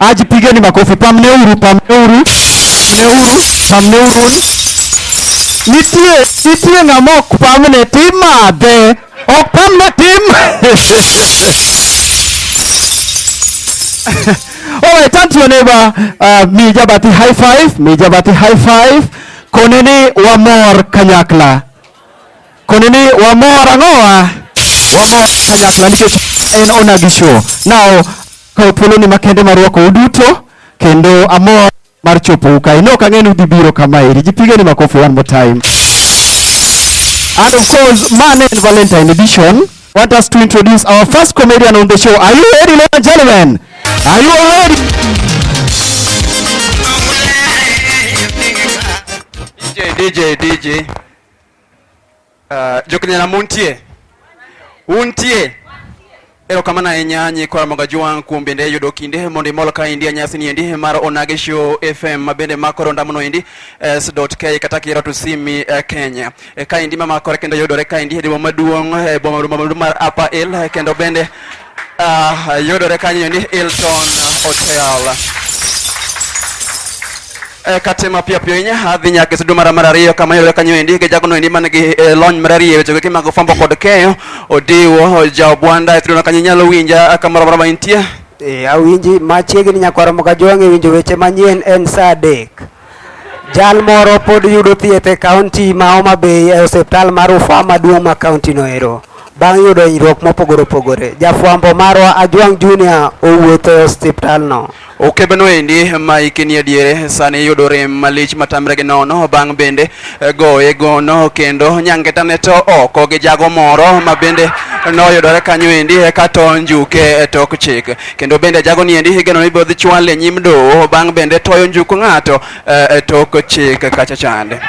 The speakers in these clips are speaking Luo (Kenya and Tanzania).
Ajipigeni makofi, pamneuru, pamneuru, pamneuru, pamneuru. Nitie, nitie ng'ama ok pamne timadhe, ok pamne tim. All right, turn to your neighbor, uh, mija bati high five, mija bati high five. Koneni wamor kanyakla. Koni ni wamor ang'owa? Wamor kanyakla nikech en ona gi show. Now, kawo thuoloni makende mar rwako uduto kendo amor mar chopo ukae. No kang'e ni udhi biro kama eri. Jipigeni makofi one more time. And of course, mane en Valentine edition. want us to introduce our first comedian on the show. Are you ready, ladies and gentlemen? Are you all ready? DJ, DJ, DJ. Uh, Jokini na muntie. Untie. Ero kama na enyanyi kwa magaji wangu kumbe nde yudo kinde mondi molo ka india nyasi ni endi mara onage show FM mabende makoro ndamuno endi s.k katakira tusimi uh, Kenya. E kaendi mama kore kendo yudore kaendi e boma maduong' e boma maduong' mar Upper Hill e kendo bende uh, yudore kanyo ni Hilton Hotel. E kate mapiyo piyo inya adhi nyaka e sudu mara mar ariyo kama yudore kanyo endi gi jagono endi man gi e, lony marariyo e weche goki mag fwambo kod keyo Odiwo Jaobwanda e suduno kanyo inyalo winja kamoro amora ma intie. E, awinji machiegni nyakwaromo ka jwang' e winjo weche manyien en saa adek. Jal moro pod yudo thieth e kaunti ma Homa Bay e osiptal mar Rufaa maduong' ma kaunti no ero bang' yudo hinyruok mopogore opogore. Jafwambo marwa Ajwang' Junior owuotho e osiptal no. Okebeno endi ma hike ni adiere sani yudo rem malich matamre gi nono bang' bende eh, goye gono kendo nyangetane to oko gi jago moro ma bende noyudore kanyo endi eka to njuke e tok chik. kendo bende jago ni endi higano ibiro dhi chwale nyim doho bang' bende toyo njuku ng'ato eh, e tok chik kacha chande.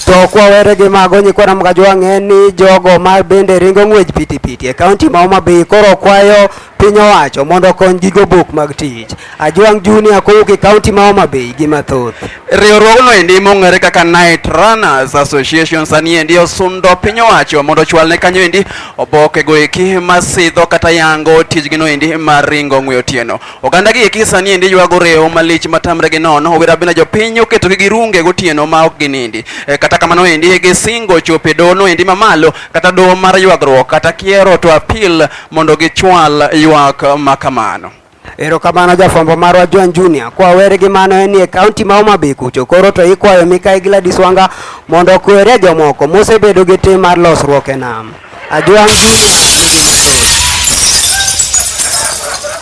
To kwawere gi mago nyikwa Ramgajwa ng'e ni jogo ma bende ringo ng'wech pitipiti e kaunti ma Homa Bay koro kwayo Piny owacho mondo okony gigo buk mag tich. Ajwang' Junior kowuok e kaunti ma Homa Bay gi mathoth. Riwruogno endi mong'ere kaka Night Runners Association sani endi osundo piny owacho mondo ochwal ne kanyo endi oboke go eki masidho kata yango tijgi no endi mar ringo ng'we otieno. Oganda gi eki sani endi ywago rewo malich matamre gi nono owira bina jopiny oketo gi girunge gotieno ma ok ginindi. E, kata kamano endi gisingo chope dono endi mamalo kata doho mar ywagruok kata kiero to appeal mondo gichwal ywak ma kamano. Erokamano jafwambo marwa Joan Junior. Kwa weri gi mano en nie kaunti ma Homa Bay kucho. Koro to ikwayo Mikayi Gladys Wanga mondo okwere jomoko mosebedo gi tim mar losruok e nam. Ajwang'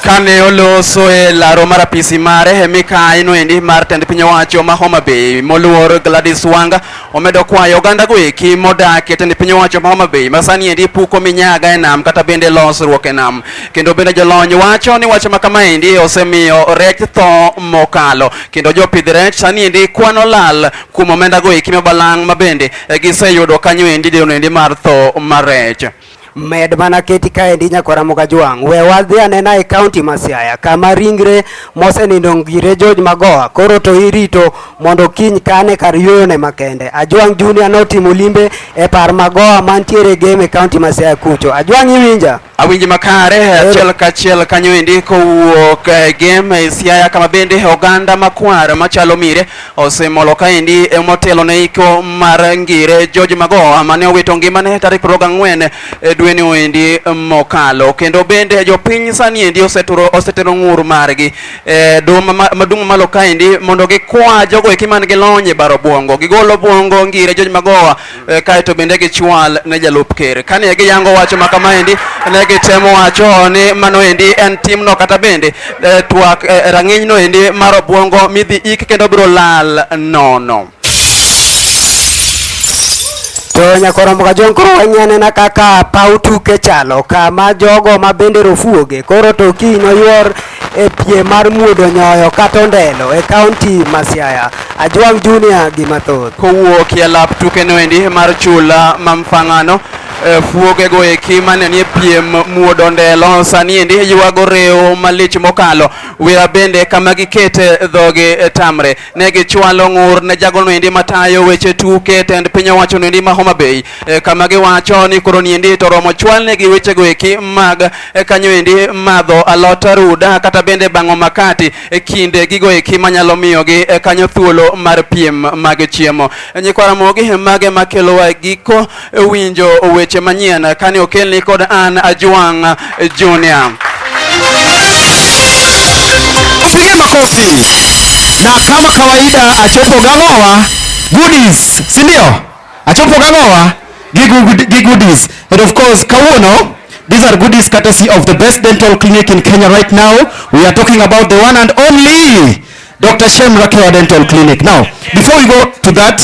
kane oloso e laro mar apisi mare e mikayi noendi mar tend piny owacho ma Homa Bay moluor Gladys Wanga Omedo kwayo oganda go eki modak e tend piny owacho ma Homa Bay masani endi puko minyaga e nam kata bende losruok e nam. Kendo bende jolony wacho ni wach ma kama endi osemiyo rech tho mokalo. Kendo jopidh rech sani endi kwano lal kuom omenda go eki mabalang' ma bende giseyudo kanyo endi deno endi mar tho mar rech. Med mana keti kaendi nyakwara Mukajwang', we wadhi anena e kaunti ma Siaya kama ringre mosenindo ngire George Magoha koro to irito mondo kiny kane kar yuyone makende. Ajwang' Junior notimo limbe e par Magoha mantiere game e kaunti ma Siaya kucho. Ajwang' iwinja? Awinji makare achiel kachiel kanyo endi kowuok e game e Siaya kama bende oganda makwar machalo mire Osemolo kaendi emotelo ne iko mar ngire George Magoha mane owito ngimane tarik 24 e dweni endi mokalo. Kendo bende jopiny sani endi oseturo osetero ng'ur margi e duma madung' malo kaendi mondo gikwa jogo eki man gi lony e baro bwongo. Gigolo bwongo ngire George Magoha e, kae to bende gichwal ne jalup ker. Kane giyango wacho ma kamaendi, ne gitemo wacho ni mano endi en timno kata bende e, twak e, rang'inyno endi mar obwongo midhi ik kendo biro lal nono. To nyakoromo ka jong koro wanyanena kaka paw tuke chalo kama jogo ma bende rofuoge koro to kiny oywor e piem mar muodo nyoyo kata ondelo e kaunti ma Siaya. Ajwang' Junior gi mathoth. Kowuok e lap tukeno endi mar chula ma Mfang'ano e, fuogego eki mane nie piem muodo ndelo sani endi ywago rewo malich mokalo wira bende kama gikete dhogi e, tamre ne gichwalo ng'ur ne jagono endi matayo weche tuke tend piny owacho endi ma Homa Bay e, kama giwacho ni koro niendi to romo chwalne gi wechego eki mag e, kanyo endi madho alot ruda kata bende bang'o makati e kinde gigo eki manyalo miyogi e, kanyo thuolo mar piem mag chiemo. E, Nyikwa Ramogi mage makelowa e giko winjo weche manyien kane okelni kod an Ajwang' Junior. Piga makofi. Na kama kawaida achopo gang'owa goodies, si ndio? Achopo gang'owa gi goodies. And of course kawuono These are goodies courtesy of the best dental clinic in Kenya right now. We are talking about the one and only Dr. Shem Rakewa Dental Clinic. Now, before we go to that,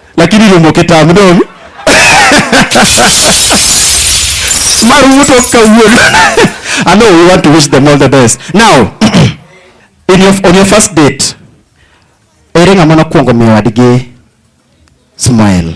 lakini ilombo kitamu dong maruto kawuono I know we want to wish them all the best now in your, on your first date ere ng'ama nokwongo miyo wadgi smile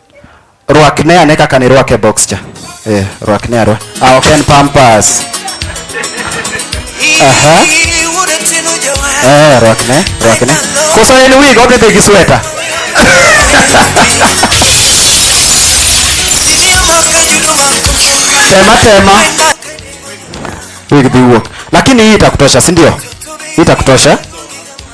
Rwakne ane kaka ne rwake box cha. Eh, rwakne arwa. Ah, ok en pampas. Aha. Eh, rwakne, rwakne. Koso en wig odhi dhi gi sweta. Tema tema. Wig dhi wuok. Lakini hii itakutosha, si ndio? Itakutosha.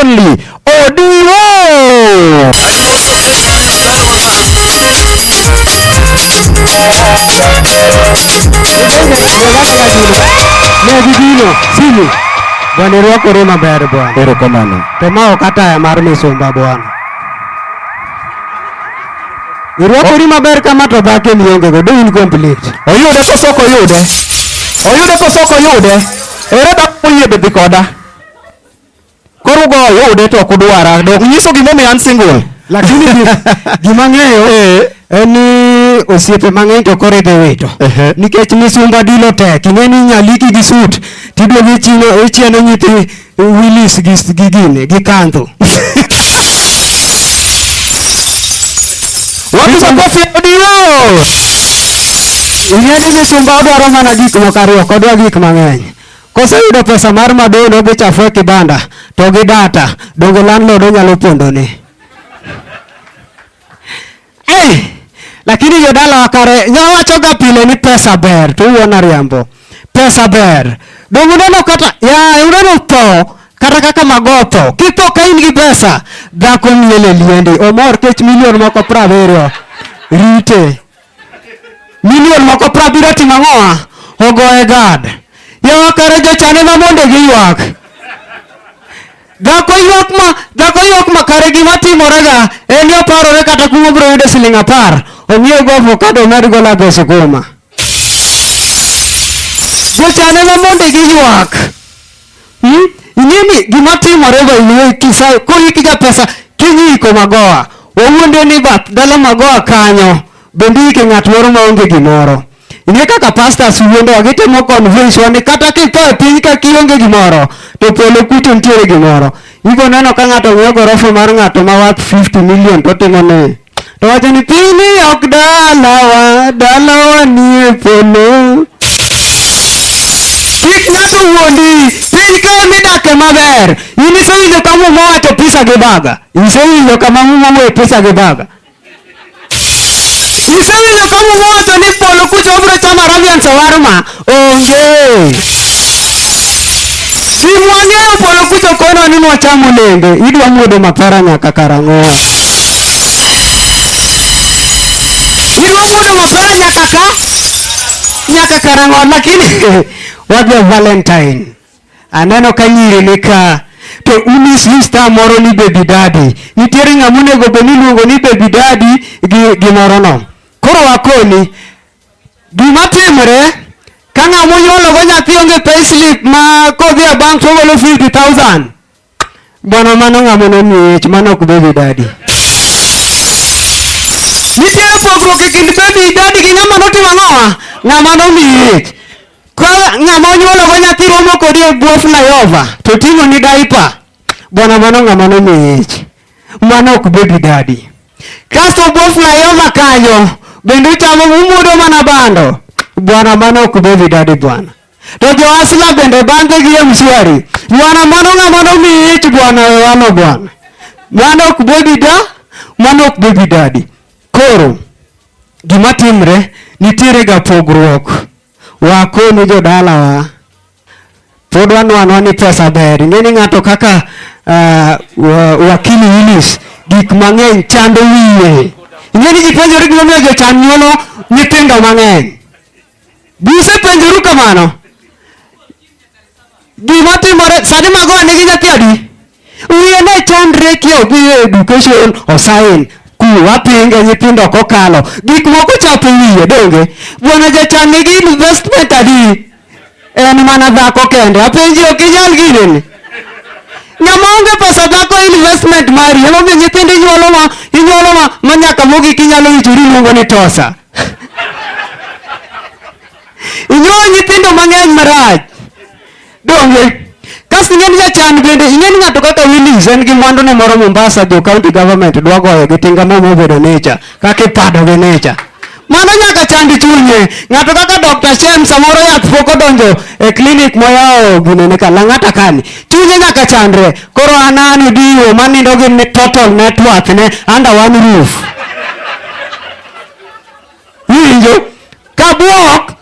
Only Odiwo. Negibino sini bwana irwakore maber bwana. Erokamano. To ma ok ataya mar misumba bwana. Irwakori maber kama to dhake miongego do in complete. Oyude koso ok oyude? Oyude koso ok oyude? Ere dhako moyie be dhi koda? Koro goyo ude to ok udwara. Dok nyiso gimomiyo an single. Lakini gima ng'eyo eh. en ni osiepe mang'eny to koro idhi wito nikech misumba dilo tek ing'e ni nyaliki gi sut tiduogo ichieno nyithi wilis gi gine gi kandho wapi makofi odio ing'e ni misumba odwaro mana gik moko ariyo kodwa gik mang'eny Koseyudo pesa mar madeno gi chafu e kibanda to gi data, donge landlord onyalo pondone? Eh, lakini jodala wakare nyawachoga pile ni pesa ber to uona riambo. Pesa ber. Donge uneno kata ya uneno tho kata kaka magoto kipo ka in gi pesa dhako miele liendi omor kech milion moko praveriyo rite Milion moko prabiro timo ang'owa? Ogoye gad. Yawa kare jochane ma mondo giywak. Dhako ywak ma dhako ywak ma kare gima timorega en ni oparore kata kuma obiro yudo siling apar ong'iew go avokado omed go lago sukuma. Jochane ma mondo giywak. Hmm? Ing'e ni gima timore go iwe kisayo kori kiga pesa kinyiko magoa. Wawuonde ni bath dala magoa kanyo bende yike ng'at moro ma onge gimoro. Ing'e kaka pastors wuondo wa gitemo convince wa ni kata kitho e piny ka kionge gimoro to polo kucho nitiere gimoro. Ibo neno ka ng'ato ng'iewo gorofa mar ng'ato ma worth 50 million to timo ni to wacho ni piny ok dalawa dalawa nie polo kik ng'ato wuondi piny ka midake maber in isewinjo ka muma wacho pisa gi baga isewinjo kama muma wuoyo pisa gi baga isewinjo ka muma wacho ni polo kucha obiro chamo arabian sawarma Onge. Gin wang'eyo polo kucho kono ni nwacham olembe, idwa muodo mapera nyaka karang'o? Idwa muodo mapera nyaka ka nyaka karang'o? Lakini wadwa Valentine. Aneno ka nyiri ni ka to unis ni star moro ni baby daddy. Nitiere ng'ama onego bed ni iluongo ni baby daddy gi gimoro no. Koro akoni Gima timore ka ng'a monyuologo nyathi onge payslip ma kodhi e bank togolo 50,000 bwana, mano ng'a mono miech, mano ok baby daddy. Nitiere pogruok e kind baby daddy gi ng'ama notimo ang'owa, ng'ama nomiech. Ka ng'ama onyuologo nyathi romo kodi e bwo flyover to ting'oni diaper, bwana, mano ng'ama nomiech. Mano ok baby daddy. Kasto bwo flyover kanyo bende uchamo umudo mana bando. Bwana mano ok baby daddy bwana. To jo asla bende bande gi ya mshwari. Bwana mano ng'ama nomiyi ich bwana we wano bwana. Mano ok baby da, mano ok baby daddy. Koro gima timre nitiere ga pogruok. Wakonu jodalawa. Pod wanwanwa ni pesa ber. Ing'e ni ng'ato kaka uh, wakili Willis gik mang'eny chando wiye. Ing'e ni gipenjore gimomiyo jochan nyuolo nyithindo mang'eny. Be usepenjoru kamano? Gima timore sani mago nigi nyathi adi? Wiye ne chandre ki odhi e education osain ku wapinge nyithindo kokalo gik moko chapo wiye donge bwana jachan nigi investment adi en mana dhako kende apenji ok inyal ginene ng'ama onge pesa dhako investment mari emomiyo nyithindo inyuolo ma inyuolo ma ma nyaka mogik inyalo wichori iluongo ni tosa inyuolo nyithindo mang'eny marach Donge. Kas ing'e ni jachan bende ing'e ni ng'ato kaka Willis en gi mwandu ne moro Mombasa jo county government dwa goyo gi tinga mo mobedo nature kaka ipado gi nature. Mano nyaka chand chunye. Ng'ato kaka Dr. Shem samoro yath pok odonjo e clinic moyawo gine ne kalang'ata kani. Chunye nyaka chandre. Koro an an odiwo manindo gi ne total net worth ne under one roof. Winjo? Kabuok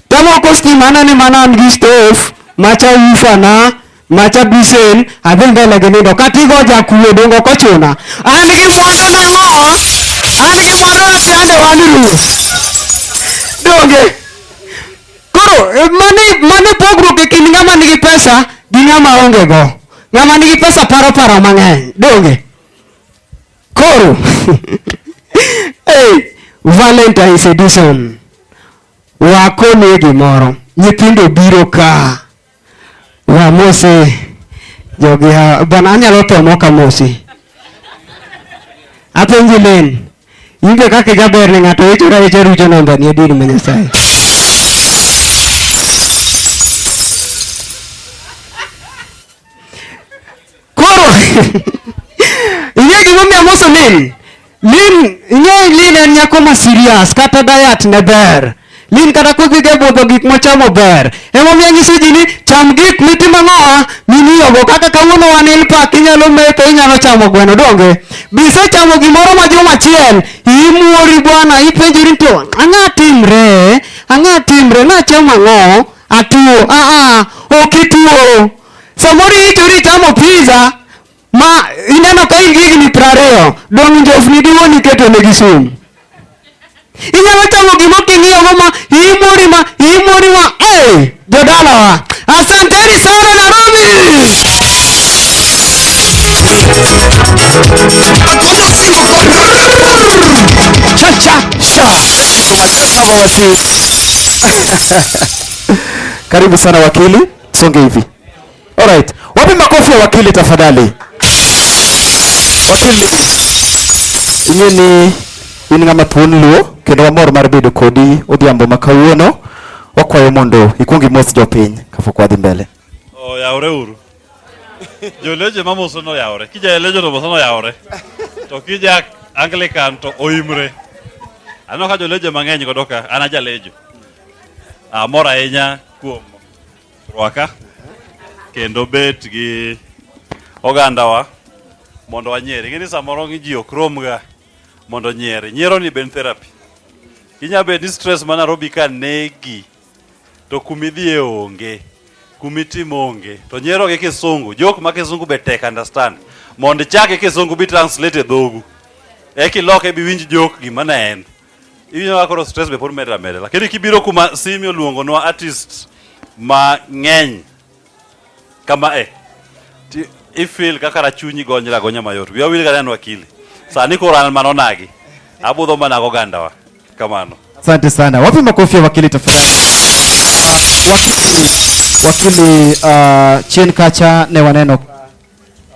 Kama uko stimana ni maana mji stove, macha ufa na macha bisen adhi mbele gi nindo kata igo jakuo dongo ok ochuna. An gi moro mang'o, an gi moro achande wani ruoth. Donge. Koro eh, mani mani pogruok e kind ng'ama nigi pesa gi ng'ama onge go. Ng'ama nigi pesa paro paro mang'eny. Donge. Koro. hey, Valentine's edition. Wakonie gimoro. Nyithindo biro ka. Wamose jogi ha. Bwana anyalo tho mok amosi. Apenji Len, in be kaka ijaber ne ng'ato wichora wicha rucho namba ni adieri ma Nyasaye. Koro ing'e gimomiyo amoso Lin? Lin ing'e Lin en nyako ma serious kata diet ne ber. Lin kata kodhi ga budho gik mochamo ber. Emomiyo anyiso ji ni cham gik mitimo ang'owa mimiyogo kaka kawuono wan in pak inyalo metho inyalo chamo gweno donge. Bisechamo gimoro ma juma achiel imuori bwana ipenjori ni to ang'a timre ang'a timre nachamo ang'o atuo aa ok ituo Samoro iti uri chamo pizza ma ineno ka in gigi ni prariyo, dong' njofni diwo ni keto ne gisumu. Inyalo chamo gimo king'iyo go ma imori ma imori ma eh jodala wa. Asanteni sana Nairobi. Cha cha cha. Karibu sana wakili. songe hivi. Alright, wapi makofi ya wakili tafadhali? Wakili inyuĩ nĩ in ng'ama thuon luo kendo wamor mar bedo kodi odhiambo ma kawuono wakwayo mondo ikwong imos jopiny kapok wadhi mbele oyawore uru joleje mamoso noyawore kija elejo to moso noyawore to kija anglican to oimre aneno ka joleje mang'eny godo ka an ajalejo amor ahinya kuom rwaka kendo bet gi ogandawa mondo wanyieri. Ing'e ni samoro ji ok romga mondo onyieri. Nyiero ni ben therapy. Inya bet ni stress ma Nairobi ka negi to kumidhiye onge, kumitim onge. To nyiero gi kisungu, jok ma kisungu be tek understand. Mondo ichake kisungu bi translate e dhogu. Eki loke bi winj jok gima ne en. Iwinjo kaka koro stress be pod medra medra. Lakini kibiro kuma Simi oluongonwa artist mang'eny kama e ti- ifeel kaka rachunyi gonyra gonya mayot. Wiya wil kata en wakili. Sani koro an mana onagi. Abudho mana go gandawa. Kamano. Asante sana. Wapi makofi ya wakili tafadhali? Wakili uh, chien kacha ne waneno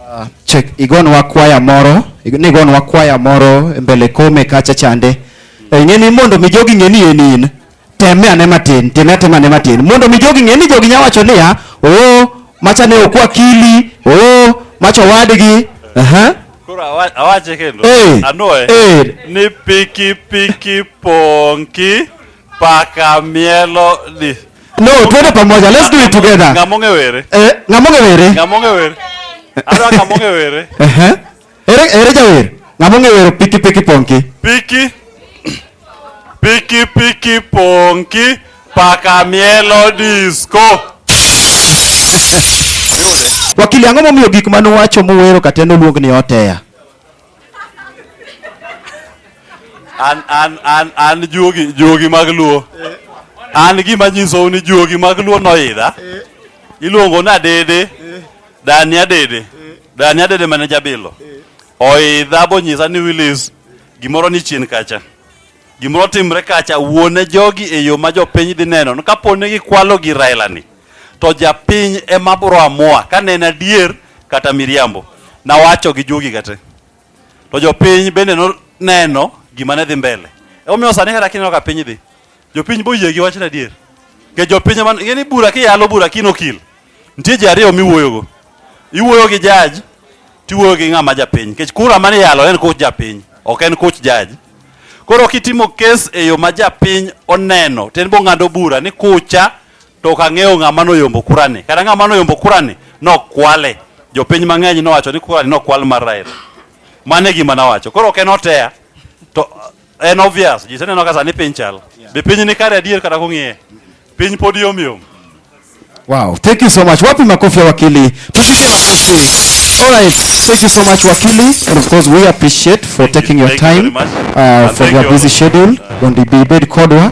Uh, check igonwa kwaya moro nigonwa kwaya moro e mbele kome kacha chande e, ing'e ni mondo mi jogi ng'e ni en in teme ane matin time atema ane matin mondo mi jogi ng'e ni jogi nya wacho niya oo macha ne okwa kili oo macha owadgi aha Koro awa- awache kendo Eh, anwoye eh. ni pikipiki ponki Paka mielo ni. No, twende pamoja. Let's do it together. Ngamonge were. Eh, ngamonge were. Ngamonge were. Ara ngamonge were. Eh eh. Ere ere jawer. Ngamonge were piki piki ponki. Piki. Piki piki ponki. Paka mielo disco. Wakili ang'o momiyo gik mane uwacho muwero kata noluong ni oteya? an an an an juogi juogi mag luo an gima nyisou ni juogi mag luo noidha iluongo ni adede dani adede dani adede mane jabilo oidha bonyisa ni wilis gimoro ni chien kacha Gimoro timre kacha, wuone jogi e yo ma jopiny dhi neno. No, Kapo ni gikwalo gi Raila ni, to japiny ema bro amua ka ne en adier kata miriambo. Nawacho gi jogi kate. To jopiny bende no neno gima ne dhi mbele. Emomiyo sani kata kineno ka piny dhi, jopiny boyie gi wachno adier. Ke jopiny ema, ing'e ni bura kiyalo bura kinokil. Nitie ji ariyo miwuoyogo. Iwuoyo gi jaji, tiwuoyo gi ng'ama japiny. Nikech kura mane iyalo en koch japiny, ok en koch jaji. Koro kitimo kes e yo ma japiny oneno, to en bong'ado bura ni kucha to ok ang'eyo ng'ama noyombo kurani. Kata ng'ama noyombo kurani nokwale. Jopiny mang'eny nowacho ni kurani nokwal mar Raila. Mano e gima nawacho. Koro ok en oteya. To En obvious, ji seneno ka sani piny chal. Be piny ni kare adier kata kung'iye? Piny pod yom yom. Wow, thank you so much. Wapi makofi ya wakili? Tupige makofi. All right, thank you so much wakili. And of course we appreciate for thank taking you, your time you uh, for your busy schedule. Gondi Bibed Kodwa.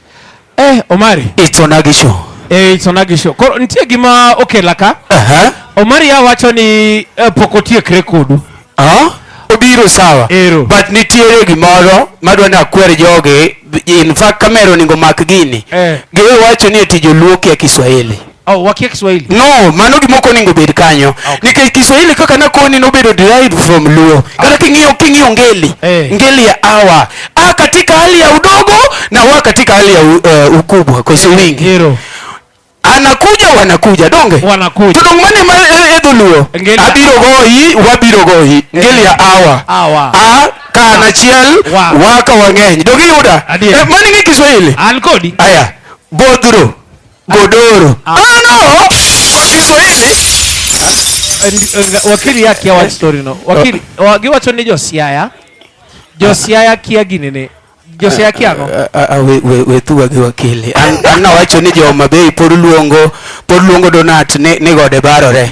Eh, Omari. Itona gisho. Eh, itona gisho. Koro nitie gima okela ka. Uh -huh. Omari ya wacho ni eh, pok otiekre kodu. Ah? Uh -huh. Obiro sawa. Ero. But nitiere gimoro madwa ni akwer jogi in fact kamera oningo mak gini. Eh. Giwe wacho ni eti joluo kia Kiswahili. Oh, wakia Kiswahili. No, mano gima okoni ngo bed kanyo. Ah, okay. Nikech Kiswahili kaka na koni no bedo derived from Luo. Ah. Kata king'iyo king'iyo ngeli. Hey. Eh. Ngeli ya awa. A katika hali ya udogo na wa katika hali ya uh, ukubwa kwa si wingi. Hero. Anakuja wanakuja donge. Wanakuja. Tudong mane ma eh, edho Luo. Abiro goyi, wabiro goyi. Ngeli ya awa. Awa. A kana ah. chiel waka wang'eny. Dogi yuda. Eh, mani ngi Kiswahili. An kodi. Aya. Bodhuro. godoro. Ah, no. Wakili ya kia watu story no. Wakili, oh. wagi watu ni josiaya. Josiaya kia ginene. Josiaya kia no. Ah, ah, ah, we, we, we tu wagi wakili. Anna watu ni jo mabei poru luongo, poru luongo donat ni, ni gode barore.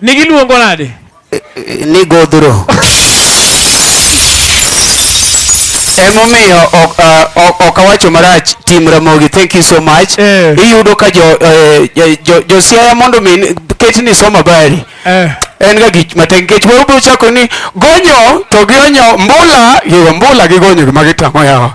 Ni giluongo nade? Ni godhro. Emomiyo ok uh, ok awacho marach tim Ramogi. Thank you so much. Eh. Iyudo ka jo eh, jo jo Siaya mondo min ketni soma bari. Eh. en ga gik matek nikech moro biro chako ni gonyo to gionyo mbula yo mbula gi gonyo gima gitang'o yawa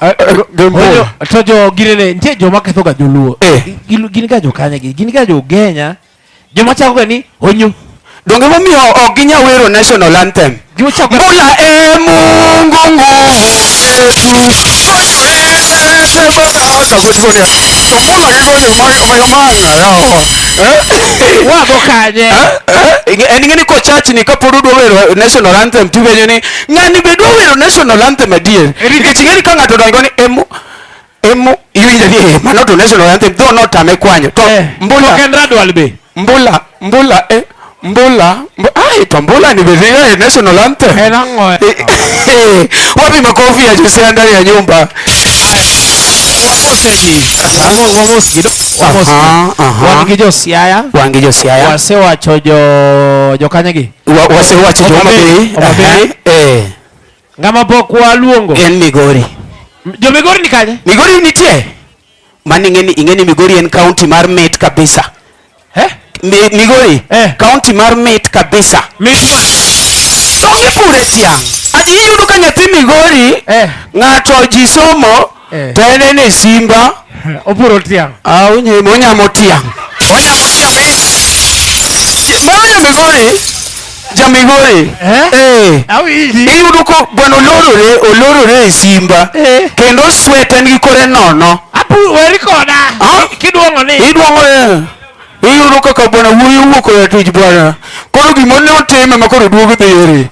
Oyo, to jo ginene nitie joma ketho ga joluo Eh. Gin- gin ga jokanya gi gin ga jogenya joma chako ga ni onyu donge momiyo ok ginya wero national anthem gima chako mbula e mungu nguvu wago kanye en ng'eni kochachni kapod udwa wero national anthem tiwenyo ni ng'ani be dwa wero national anthem adier nikech ing'eni ka ng'ato dongo ni emo emo iwinjo ni eh, mano to national anthem dho notame kwanyo to eh, mbula ken radwal be mbula mbula eh mbula ai to mbula ni bedhiyo eh, national anthem en ang'o eh, wapi makofi ya Josia ndani ya nyumba wan gi josiaya wasewacho jokanyegi wasewacho Homabay, Homabay. Eh, ng'ama pok waluongo en Migori. Jo Migori ni kanye? Migori nitie. Mani ingeni ingeni Migori en county mar mit kabisa. Eh? Mi, Migori eh. County mar mit kabisa. Mi Onge pure tiang. Ayudo ka nyathi Migori eh. ng'ato ji somo Eh. To en ene simba. Oburo tiang'. Ah, unye monyamo tiang'. Mawinjo Migori. Ja Migori. Eh. eh. Awinji. Iyudo ko gweno olorore, olorore e simba. Eh. Kendo sweten gi kore nono. Apu weri koda. Ah? Kiduong'o ni. Iduong'o. Eh. Iyudo kaka bwana wuoyi owuok oya tich bwana. Koro gima ne otime ma koro duogo dhi eri.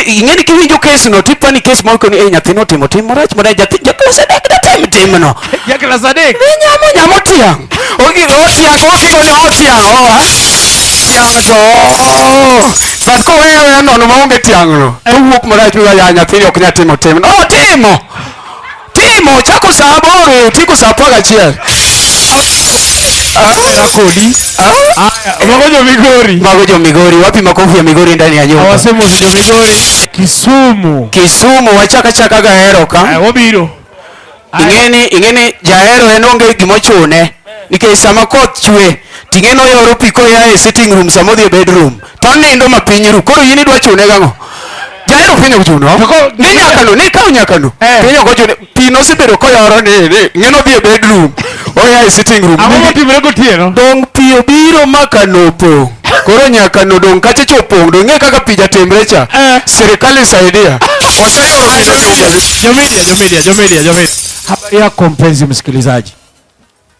Ing'eni kiwinjo kes no tipa ni kes moko ni e nyathi no timo tim marach mana nyathi jaklas adek da tim tim no. Jaklas adek. Ni nyamo nyamo tiang'. Ogi otiang' otiang' otiang' oa. Tiang' to. But ko wewe nono maonge tiang' no. Owuok marach mi ya nyathi ok nyatimo tim no. Otimo. Timo chako saa aboro tieko saa apar gachiel. Haya kodi. Haya, mago jo Migori. Mago jo Migori. Wapi makofi ya Migori ndani ya nyumba? Hawasemi wana jo Migori. Kisumu. Kisumu wachaka chaka gahero ka. Haya, wabiro. Ingeni ingeni jahero en onge gimochune. Nikech sama koth chwe ting'eno yoro pi koya e sitting room sama odhi e bedroom. to onindo ma piny ru koro in idwa chune gang'o jahero piny ok chuno ni nyakano ni kaw nyakano eh. piny ok ochune pi nosebedo koyoro ni ng'eno dhi e bedroom oya e sitting room ang'o motimre gotieno dong' pi obiro ma kano opong' koro nyakano dong' kacha cha opong' dong' ng'e kaka pi jatimre cha eh. sirikal isaidia jomedia jomedia jomedia jomedia habari yako mpenzi msikilizaji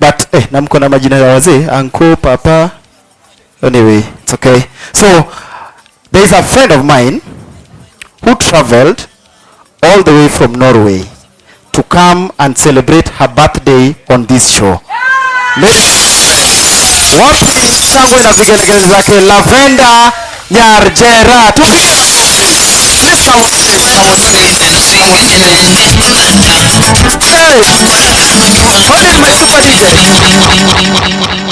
but eh, na mko na majina ya wazee uncle papa anyway it's okay so there is a friend of mine who traveled all the way from Norway to come and celebrate her birthday on this show Let- wapi shangwe na vigelegele zake Lavenda Nyar Jerat.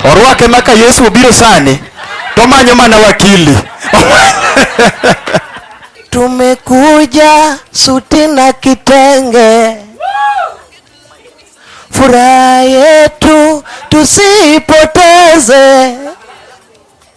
Orwake maka Yesu obiro sani to manyo mana wakili. Tumekuja suti na kitenge, furaha yetu tusipoteze.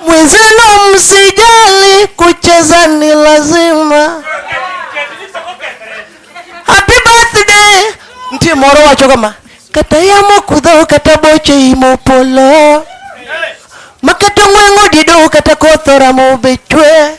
Mwenzenu msijali, kucheza ni lazima. Happy birthday nti moro wacho kama kata yamo kudho kata boche imo polo makata ng'wengo dido kata kothora mobechwe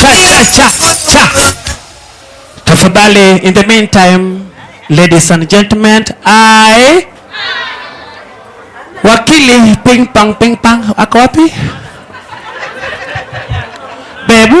Cha, cha, cha, cha. Tafadhali, in the meantime, ladies and gentlemen, I wakili ping pong ping pong ako wapi? Bebu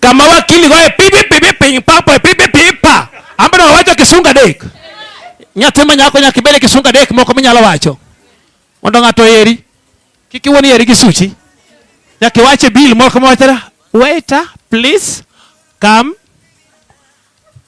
kama wakili goye pipi pipi piny papo pipi pipa ambano wawacho kisunga dek nyathi ma nyako nyaka ibede kisunga dek moko minyalo wacho mondo ng'ato eri kik iwuon eri gi suchi nyaka iwache bill moko mawachara waiter please come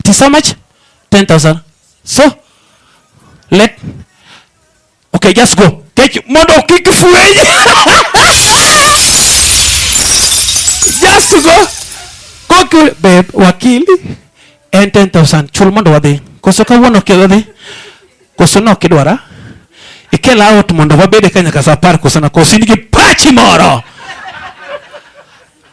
It is how much? 10,000. So, let, okay, just go. Take you. Mondo kick fweny. just go. Go kill, babe, wakili. And 10,000. Chul mondo wadhi. Koso kawuono ok wadhi. Koso no kidwara. Ikel out mondo wabede kanyaka sa apar koso na koso in gi pachi moro.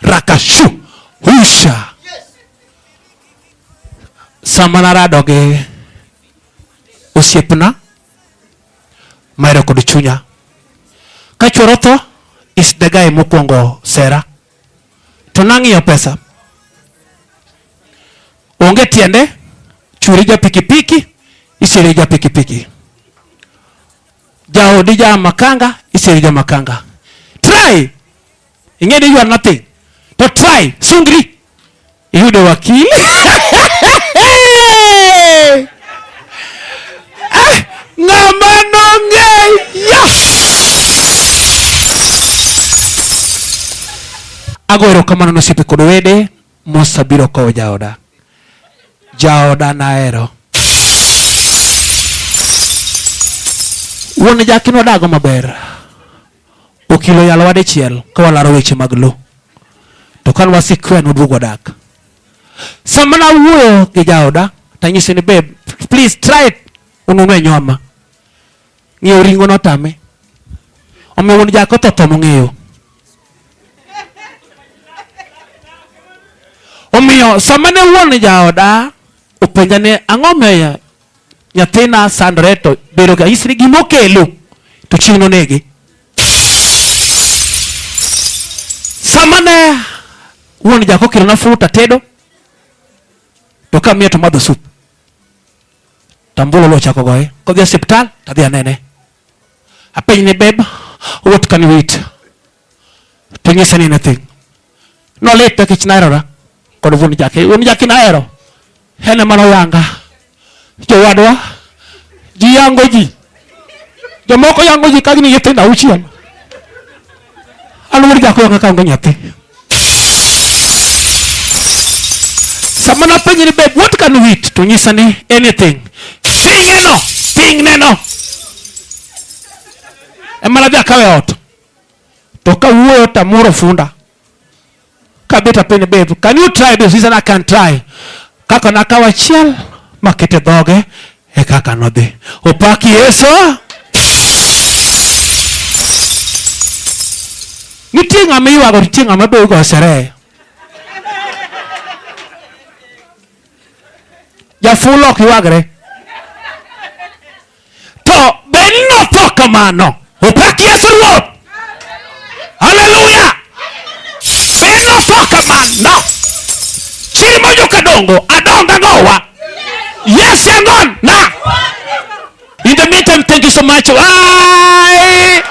rakashu husha sama narado gi osiepna maero kod chunya ka chuoro tho is the guy mokwongo sera to nang'iyo pesa onge tiende churi ja pikipiki isiri ja pikipiki jaodi ja makanga isiri ja makanga try ing'e ni you are nothing to try sungri iyudo wakili Ah, ng'ama nong'eyo ago erokamano ne osiepe kod wede mosabiro kowo jaoda jaoda nahero wuon jakin wadago maber Okilo yalowa dichiel ka walaro weche mag lo. To kane wasikwe noduogo odak. Sama nawuoyo gi jaoda tanyise ni babe please try it ununwe nyoma. Ng'eyo ringo notame. Omiyo wuon jako otho tho mong'eyo. Omiyo sama ne wuon jaoda openja ni ang'o miyo nyathina sandre to bedo ga isri gima okelo to chieng' nonege. Sama ne wuon jako okelona fruit atedo to kamiye to madho sup tambolo lo chako goye kodhi e osiptal tadhi anene apenjne beb what can we eat Ting'ise ni nathi. Nolit nikech naherora kod wuon Jaki. Wuon Jaki nahero. En ema noyanga. Jowadwa, ji yango ji. Jomoko yango ji ka gin gi nyithindo auchiel. An wuod Jaki oyanga kaonge nyathi. Sama napenje ni babe, what can we eat? To nyisa ni anything. Ting' neno, ting' neno. Ema nadhi akawe ot. To ka wuoyo to amoro funda. Kabeta piny babe, can you try this? He said, I can try. Kaka nakawo achiel makete dhoge e kaka nodhi. Opak Yesu. Nitie ng'ama iywago, nitie ng'ama be igo sherehe. Jafulo ok ywagre. to be notho kamano opak yesu ruoth haleluya be notho kamano chiri monjo kadongo adonga nowa yes yangon na in the meantime thank you so much Bye.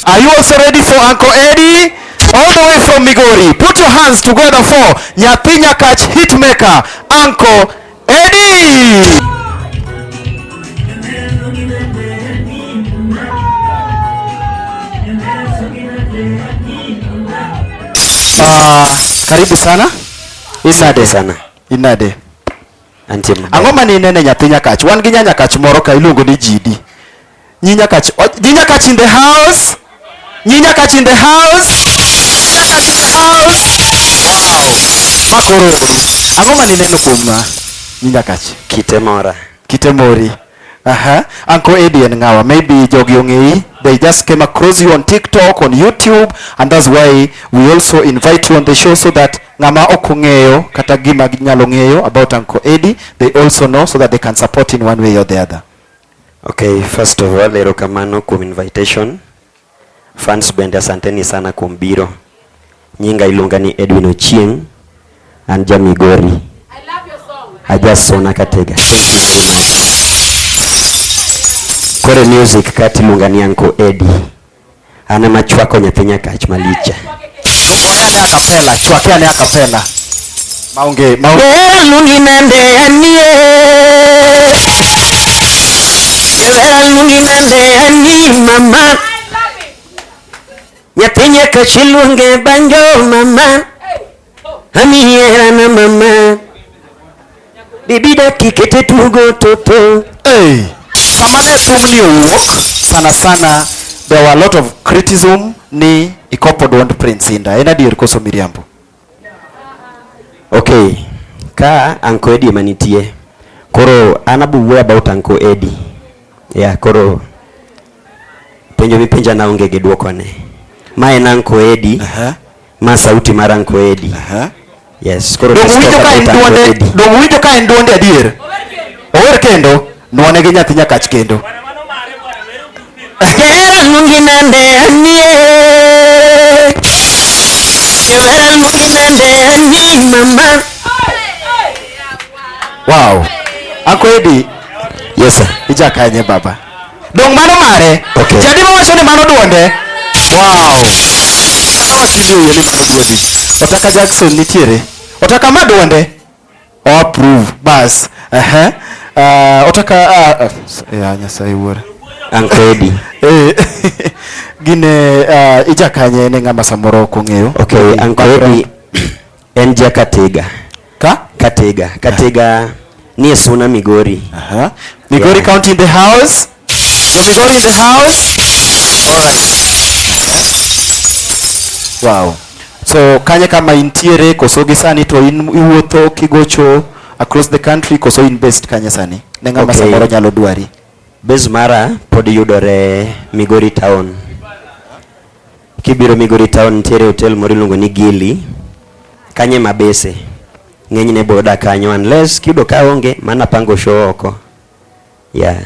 Are you also ready for Uncle Eddie? All the way from Migori. Put your hands together for Nyathi Nyakach Hitmaker, Uncle Eddie. Ah, karibu sana. Inade sana. Inade. Anjema. Angoma ni nene Nyathi Nyakach. Wan gi Nyanyakach moro ka iluongo ni Jidi. Nyinya Kachi. Oh, Nyinya Kachi in the house. Nyinya Kachi in the house. Makoro. Ang'o ma nineno kuomwa? Nyinya Kachi. Kite mora. Kite mori. Aha. Uncle Eddie and Ngawa. Maybe jogi ong'eyi. They just came across you on TikTok, on YouTube, and that's why we also invite you on the show so that ng'ama ok ong'eyo kata gima ginyalo ng'eyo about Uncle Eddie, they also know so that they can support in one way or the other. Okay, first of all, erokamano kuom invitation. Fans bende asanteni sana kuom biro. Nyinga iluonga ni Edwin Ochieng, an ja Migori. I love your song. Ajasona Katega. Kore music kati iluonga ni Anko Eddie. An ema chwako nyathi nyakach malich. Akapela, chwake ane akapela. Maonge, maonge. Wer luongi nande anie. Wer luongi nande ani mama. Nyathi nyakach iluonge banjo mama. Amiera na mama Bibi daki kete tugo toto hey. Sama jathum ni owuok sana sana there were a lot of criticism ni ikopo dwond Prince Inda. En adier koso miriambo? Okay. Ka Anko Eddie manitie. Koro an abuwuoyo about Anko Eddie. Yeah, koro penjo mipenja na onge gi dwoko ne. Ma en Anko Eddie. Uh -huh. Ma sauti mar Anko Edi. Uh -huh. Yes, koro dongo winjo ka en duonde, dongo winjo ka en duonde adier. Ower kendo, nwane gi nyathi nyakach kendo. Hera nungi nande anie. Hera nungi nande anie mama. Wow. Anko Edi. Yes sir. Ija kanye baba. Dong mano mare. Okay. Jadi wacho ni mano duonde. Wow. Otaka Jackson nitiere. Otaka ma duonde. O oh, approve. Bas. Eh. Uh -huh. Uh, otaka uh, uh, ya Nyasaye wuora. Ankodi. Eh. Gine uh, ijakanye ne ng'ama samoro kong'eyo. Okay, Ankodi. En ja Katega. Ka? Katega. Katega ni e Suna Migori. Aha. Migori yeah. County in the house. So Migori in the house. All right. Wow. So kanye kama intiere koso gi sani to in iwuotho kigocho across the country koso in based kanye sani? Ne ng'ama okay. samoro nyalo dwari. Base mara pod yudore Migori town. Kibiro Migori Town nitiere hotel moro iluongo ni Gili. Kanye mabese. Ng'enyne boda kanyo unless kiyudo ka onge mana pango show oko. Yeah.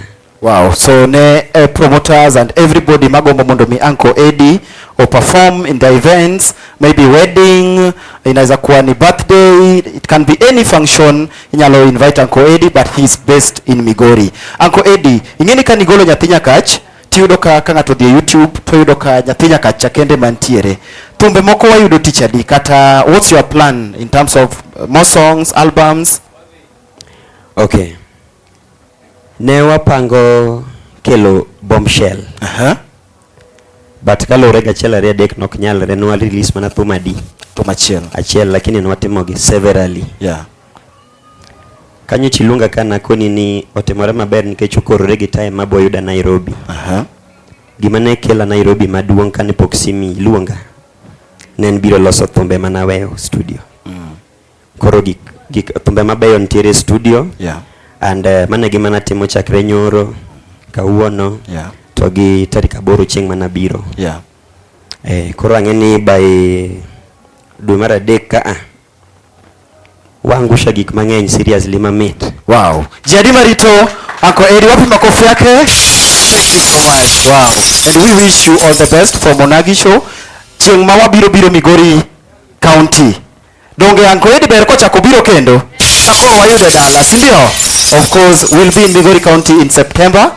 Wow, so ne uh, promoters and everybody magombo mondo mi Uncle Eddie o perform in the events, maybe wedding, inaweza kuwa ni birthday, it can be any function, inyalo invite Uncle Eddie but he is based in Migori. Uncle Eddie, ingeni ka nigolo nyathi nyakach, tiyudo ka ka ng'ato odhi e youtube to yudo ka nyathi nyaka cha kende mantiere thumbe moko wayudo tich adi kata what's your plan in terms of uh, more songs albums okay ne wapango kelo bombshell uh -huh. but kaluwore gachiel ariyo adek nok nyalre nwa release mana thum adi thum achiel achiel lakini nwatimogi severally yeah Kanyo chiluonga ka nakoni ni otimore maber nikech okorore gi time ma boyuda Nairobi. Aha. Gima ne kela Nairobi maduong' kane pok simi luonga ne en biro loso thumbe ma naweyo studio. Mm. Koro gik gik thumbe mabeyo nitiere e studio Yeah. and uh, mano e gima natimo chakre nyoro kawuono Yeah. to gi tarik aboro chieng' mana biro. Yeah. Eh, koro ang'e ni by dwe mar adek ka a Waangusha gik mang'eny seriously mamit. Wow. Jadi Marito, Uncle Eddie, wapi makofi yake? Thank you so much. Wow. And we wish you all the best for Monagi show. Chieng' ma wabiro biro Migori County. Donge Uncle Eddie ber kochako biro kendo? Koro wayude dala, si ndio? Of course, we'll be in Migori County in September.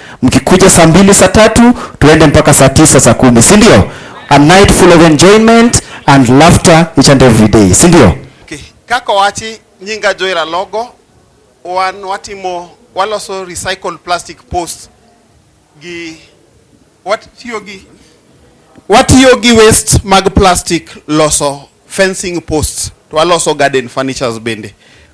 Mkikuja saa mbili saa tatu tuende mpaka saa tisa saa kumi, si ndio? A night full of enjoyment and laughter each and every day, si ndio? Okay. Kako wachi nyinga joira logo wan watimo waloso recycled plastic post gi watiyo gi watiyo gi waste mag plastic loso fencing posts to waloso garden furnitures bende